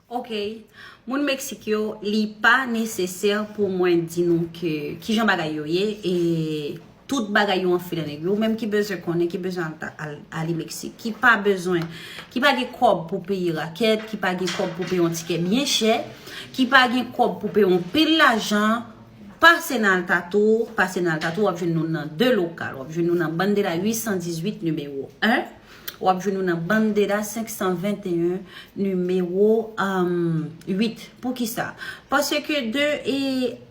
Ok Moun Mexique yo li pa nesesè pou mwen di nou ke kijan bagay yo ye e tout bagay yo anfile nan nèg yo. Ou menm ki bezwen konnen, ki bezwen ale Mexique, ki pa bezwen, ki pa gen kòb pou peye rakèt, ki pa gen kòb pou peye yon tikè byen chè, ki pa gen kòb pou peye yon pil lajan, pase nan Altatour, pase nan Altatour wap jwenn nou nan 2 lokal, wap jwenn nou nan Bandela 818 nimewo 1. W ap jwenn ou nan Bandera 521, nimewo 8. Poukisa? Paske de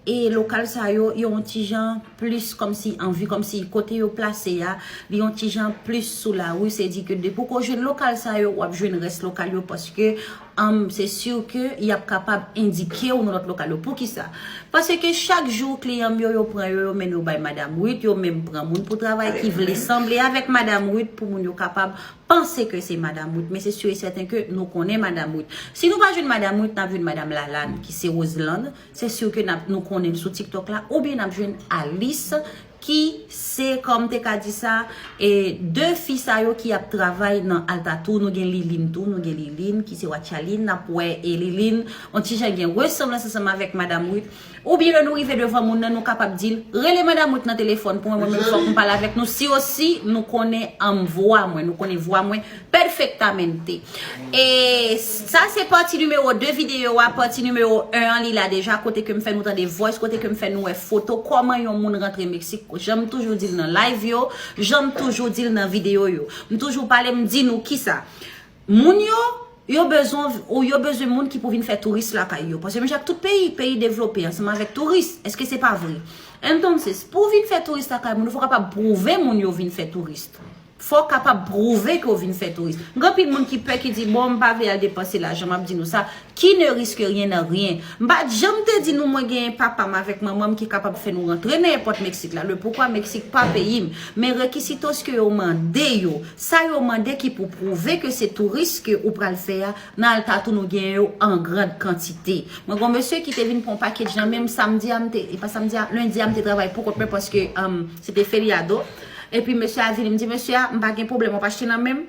e lokal sa yo, yo yon ti jan plis kòmsi anvi, kòmsi kote yo plase a, li yon ti jan plis sou lari. Se di ke depi w ko jwenn lokal sa yo, w ap jwenn rès lokal yo paske se sur ke y ap kapab endike ou nan lòt lokal yo. Poukisa? Pase ke chak jou kliyan m yo, yo pran yo, yo mennen yo bay Madam Ruth, yo menm pran moun pou travay ki vle sanble avèk Madam Ruth pou moun yo kapab panse ke se Madam Ruth. Men se sur e sèten ke nou konnen Madam Ruth. Si nou pa jwenn Madam Ruth, n ap jwenn Madam Lalane ki se Roselande. Se sur ke nou konnen l sou TikTok la. Oubyen n ap jwenn Alice. ki se kòm te ka di sa e 2 fi sa yo ki ap travay nan Altatour nou gen Liline tou nou gen Liline ki se Watchaline nap wè e Liline on ti jan gen resanblans ansanm avèk Madame Ruth ou byen lè nou rive devan moun nan nou kapab di l rele Madame Ruth nan telefòn pou mwen mwen menm fòk m pale avèk nou si osi nou konnen anm vwa mwen nou konnen vwa mwen Perfectamente. E sa se pati nimewo 2 videyo a. Pati nimewo 1 an li la deja. Kote ke m fè nou tande voice. Kote ke m fè nou wè foto. Koman yon moun rantre Meksik. Jan m toujou di l nan live yo. Jan m toujou di l nan videyo yo. M toujou pale m di nou kisa. Moun yo, yo bezwen ou yo bezwen moun ki pou vin fè touris lakay yo. Paske menjak tout peyi. Peyi devlope ansanm avèk touris. Eske se pa vre? Entonces, pou vin fè touris lakay moun. Ou fò kapab pwouve moun yo vin fè touris. Fò w kapab pwouve ke w vin fè touris. Gen anpil moun ki pè ki di, bon m pa vle al depanse lajan, m ap di nou sa, Qui ne risque rien n'a rien. M pa janm te di nou mwen genyen papa m avèk manman m ki kapab fè nou rantre nan èpòt Meksik la, le poukwa Meksik pa peyi m. Men rekisitos ke yo mande yo, sa yo mande ki pou pwouve ke se touris ke ou pral fè a, nan Altatou nou genyen yo an grand kantite. Mwen gen yon mesye ki te vin pran yon pakedj nan men m samdi a, m te, e pa samdi a, lendi a m te travay poukont mwen paske Se te feriado. Epi mesye a vini, m di mesye a, m pa gen pwoblèm, w ap achte nan men m?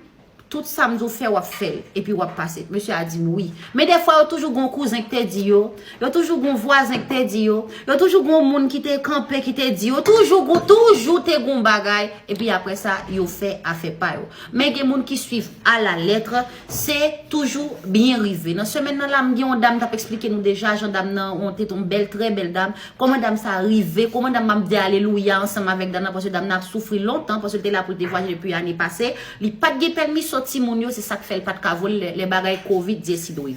Tout sa m di w fè, w ap fè l. Epi w ap pase. Mesye a di m wi. Men defwa yo toujou gen yon kouzen ki te di yo, yo toujou gen yon vwazen ki te di yo, yo toujou gen yon moun ki te kanpe ki te di yo, toujou gen, toujou te gen yon bagay, epi apre sa, yo fè afè pa yo. Men gen moun ki swiv a la lettre. Se toujou byen rive. Nan semèn nan la m gen yon dam m t ap esplike nou deja jan dam nan an te yon bèl trè bèl dam, kòman dam sa rive, kòman dam nan ap di alelouya ansanm avèk dam nan paske dam nan ap soufri lontan paske l te la pou l te vwayaje depi ane pase, li pa t gen pèmiso timoun yo se sa k fè l pa t ka vole lè lè bagay kovid dye si dwe.